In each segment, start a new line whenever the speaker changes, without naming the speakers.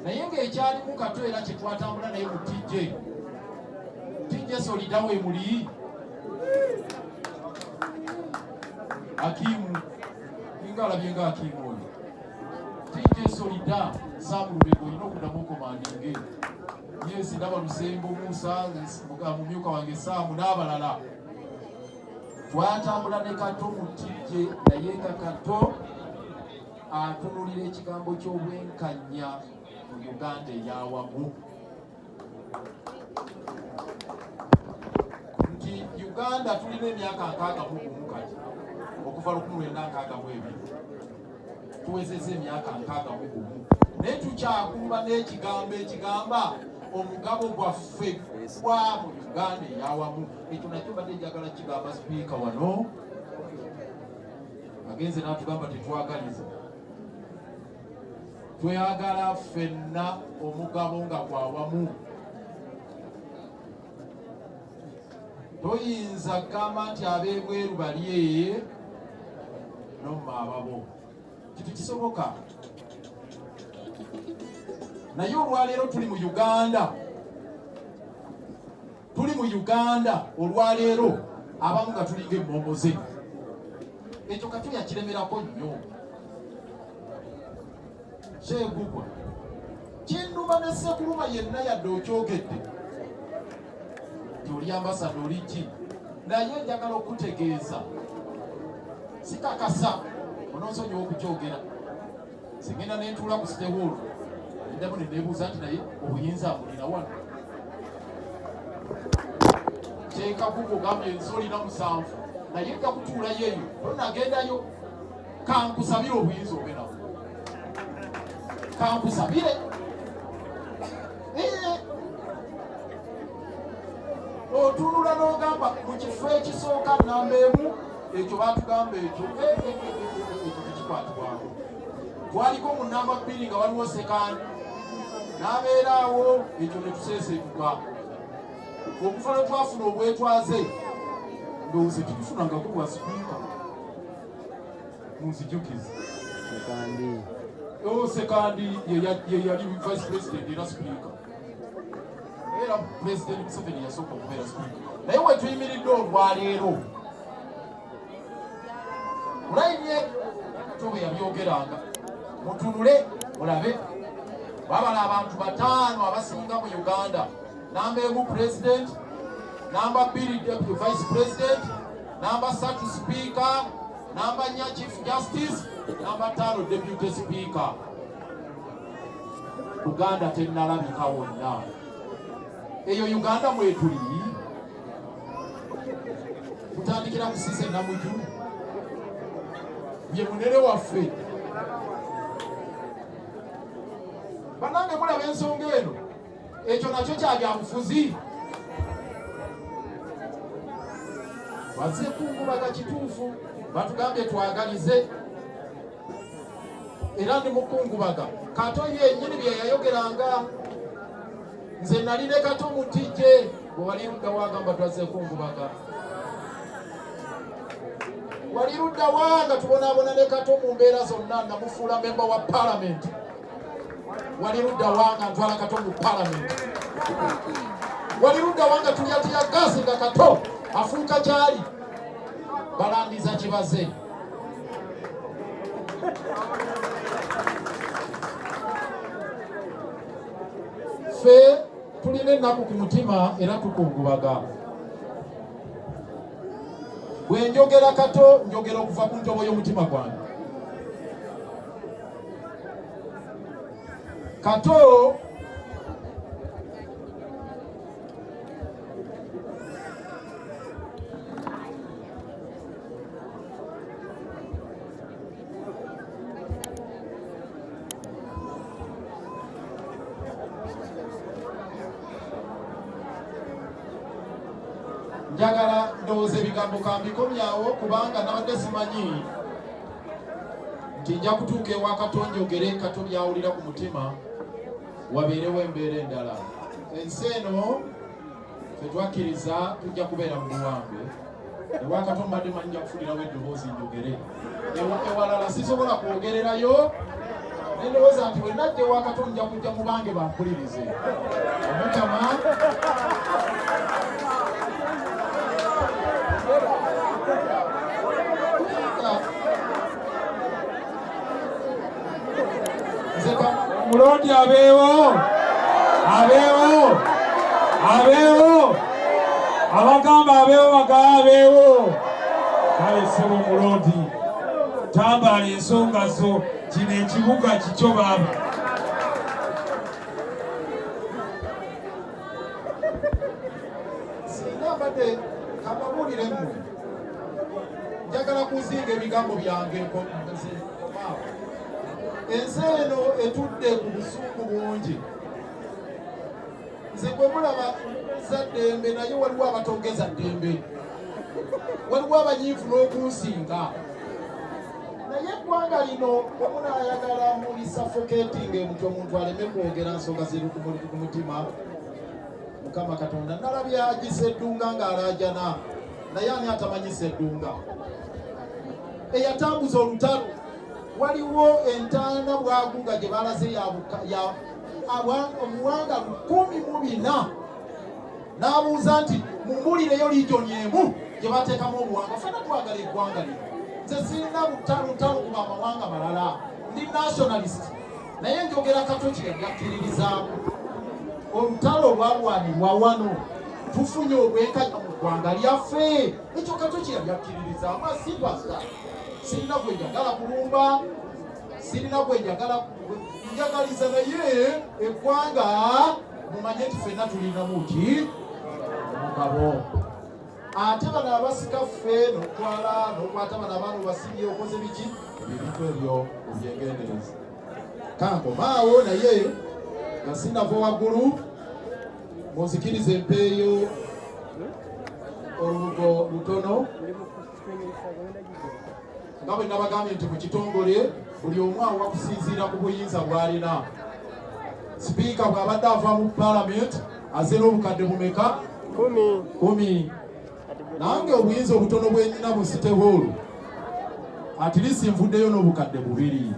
naye ng'ekyalimu kato era kye twatambula naye mu tj tj solidawo emuli akiimu ninga alabye nga akiimu oyo tj solida saamulubega olina okuddamu okomandinge yesi ndaba lusembo musa mumyuka wange saamu n'abalala twatambula ne kato mu tj naye nga kato atunulira ekigambo ky'obwenkanya mu Uganda eyawamu nti Uganda tulina emyaka nkaaga mu gumu kati okuva lukumi lwenda nkaaga mu ebiri tuwezeza emyaka nkaaga mu gumu naye tukyakumba n'ekigambo ekigamba omugabo gwaffe gwa mu Uganda eyawamu ekyo nakyo mbadde njagala kigamba sipiika wano agenze n'atugamba tetwagaliza tweyagala ffenna omugabo nga gwawamu toyinza kugamba nti ab'ebweru balye nomma ababo kitu kisoboka naye olwaleero tuli mu uganda tuli mu uganda olwaleero abamu nga tulinga emmomoze ekyo katuli akiremerako nnyo kyegugwa kinuma ne sekuluma yenna yadde okyogedde nti oli ambasada oli ki naye njagala okutegeeza sikakasa ononsonyiwa okukyogera Singenda ne ntuula ku site hall ndamu ne neebuuza nti naye obuyinza abulira wano kyekakuko gambye ensi olina musanvu naye kakutuulayo eyo tonagendayo kankusabire obuyinza obe nawo kankusabire otunula n'ogamba mu kifo ekisooka namba emu ekyo batugamba ekyo ekyo tekikwatibwako twaliko mu namba bbiri nga waliwo sekandi n'abeeraawo ekyo ne tuseesetuka okufa lwe twafuna obwetwaze ndowooza ekitufuna nga kubwa sipiika munzijukiza sekandi oh, ye yali vice president era sipiika era pulezidenti museveni yasooka okubeera sipiika naye wetuyimiridde olwaleero mulayinye katobe yabyogeranga mutunule mulabe babala abantu bataano abasinga mu uganda namba emu pulezidenti namba bbiri deputy vice president namba satu sipiika namba nya chief justice namba taano deputy sipiika uganda tennalabika wonna eyo uganda mwetuli kutandikira kusisa enamuju ye munere waffe banange mulaba ensonga eno ekyo nakyo kyabyabufuzi baze kungubaga kituufu batugambye twagalize era ndi mukungubaga kato yenyini bye yayogeranga nze nali ne kato mutijje gwe wali ludda wagamba twazze kungubaga wali ludda wanga tubonaabona ne kato mu mbeera zonna namufuula memba wa palamenti wali ludda wanga ntwala kato mu palamenti wali ludda wanga tulyatiya gaasi nga kato afuuka gyali balandiza kibaze ffe tulina ennaku ku mutima era tukungubaga bwe njogera kato njogera okuva ku ntobo y'omutima gwange kato njagala ndowooza ebigambo kambikomyawo kubanga nabadde simanyi nti nja kutuuka ewa katonda ogere kato byawulira ku mutima wabeerewo embeera endala ensi eno fetwakkiriza tujja kubeera mu buwangwe ewakato mbadde manyi nja kufunirawo eddoboozi njogere ewalala sisobola kwogererayo nendowooza nti wenajja ewakato nja kujja mu bange bampulirize omukama
omuloodi abeewo abeewo abeewo abagamba abeewo bagaa abeewo kale sebo omuloodi tambaala ensonga zo kino ekibuga kikyo baaba
singa mbadde kababuulire mmwe njagala kuzinga ebigambo byange ensi eno etudde ku busungu bungi nze gwe mulaba za ddembe naye waliwo abatogeza ddembe waliwo abanyiivu n'okunsinga naye eggwanga lino omunayagala mulisafoketinga emutyo omuntu aleme kwogera nsonga ziri ku mutima mukama katonda nalabye aji seddunga ng'alaajana naye ani atamanyi seddunga eyatambuza olutalo waliwo entaana bwaguga gye balaze omuwanga lukumi mu bina n'abuuza nti mumbulireyo liijoni emu gye bateekamu obuwanga fena twagala eggwanga lino nze sirina butalutalo kuba amawanga malala ndi nationalist naye njogera kato kyeyakkiririzaamu olutalo olwalwanirwa wano tufunye obwenkanya mu ggwanga lyaffe ekyo kato kyeyayakkiririzaamu asibasa sirina gwe njagala kulumba sirina gwe njagala njagaliza naye eggwanga mumanye nti fenna tulinamu ki mugabo ate bano abasika feeno twala nokwata bano abaana obasibye okoze biki ebintu ebyo obyegendereza kankomaawo naye nga sinava waggulu munzikiriza empeeyo olubugo lutono nga bwe nabagambye nti mu kitongole buli omu awa kusinziira ku buyinza bw'alina sipiika bw'abadde ava mu palamenti azze n'obukadde bumeka kumi nange obuyinza obutono bwenyina mu site hall atilisi nvuddeyo n'obukadde bubiri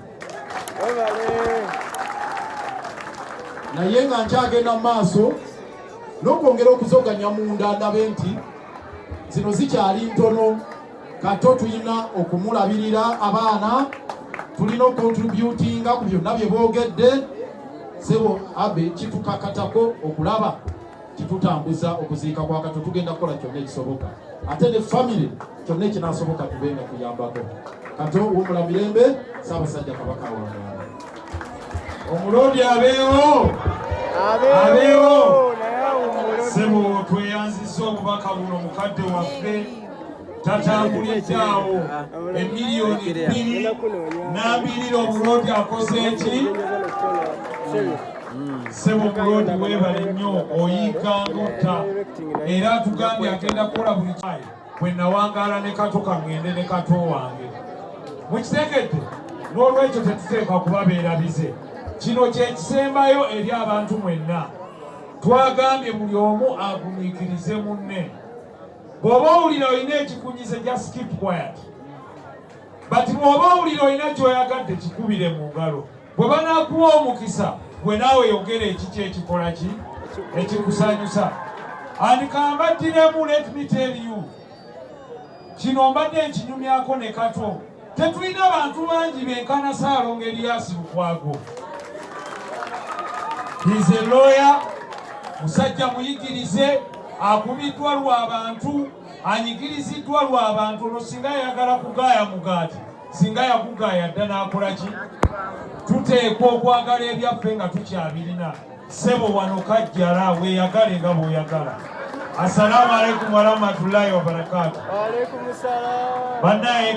naye nga nkyagenda mu maaso n'okwongera okuzoganya munda ndabe nti zino zikyali ntono kato tulina okumulabirira abaana tulina okontributinga ku byonna bye boogedde sebo abe kitukakatako okulaba kitutambuza okuziika kwa kato tugenda kukola kyonna ekisoboka ate ne famire kyonna ekinasoboka tube nga tuyambako kato wumula mirembe saabasajja kabaka wangaala
omuloodi abeewo abeewo sebo tweyanziza obubaka buno mukadde waffe tatambulidde awo emiliyoni bbiri n'abirira obuloodi akoze eki sebo buloodi weebale nnyo oyiika ng'otta era atugambye agenda kukola buli kyayi bwe nawangaala ne kato kangende ne kato wange mukitegedde n'olwekyo tetuteekwa kubabeera bize kino kyekisembayo eri abantu mwenna twagambye buli omu agumiikirize munne bw'oba owulira olina ekikunyize just keep quiet but bw'oba owulira olina ky'oyagadde kikubire mu ngalo bwe banaakuwa omukisa gwe naawe yogera ekiki ekikola ki ekikusanyusa and kambattiremu let me tell you kino mbadde nkinyumyako ne kato Tetulina bantu bangi benkana Ssaalongo Erias Lukwago. He's a lawyer, musajja muyigirize, akubiddwa lwa bantu, anyigiriziddwa lwa bantu, olwo singa yayagala kugaaya mugaati, singa yakugaaya dda n'akola ki? Tuteekwa okwagala ebyaffe nga tukyabirina. Ssebo wano kajjala weeyagale nga bw'oyagala. Assalamu alaikum warahmatullahi wabarakatuh. Wa alaikum salaam. Banaye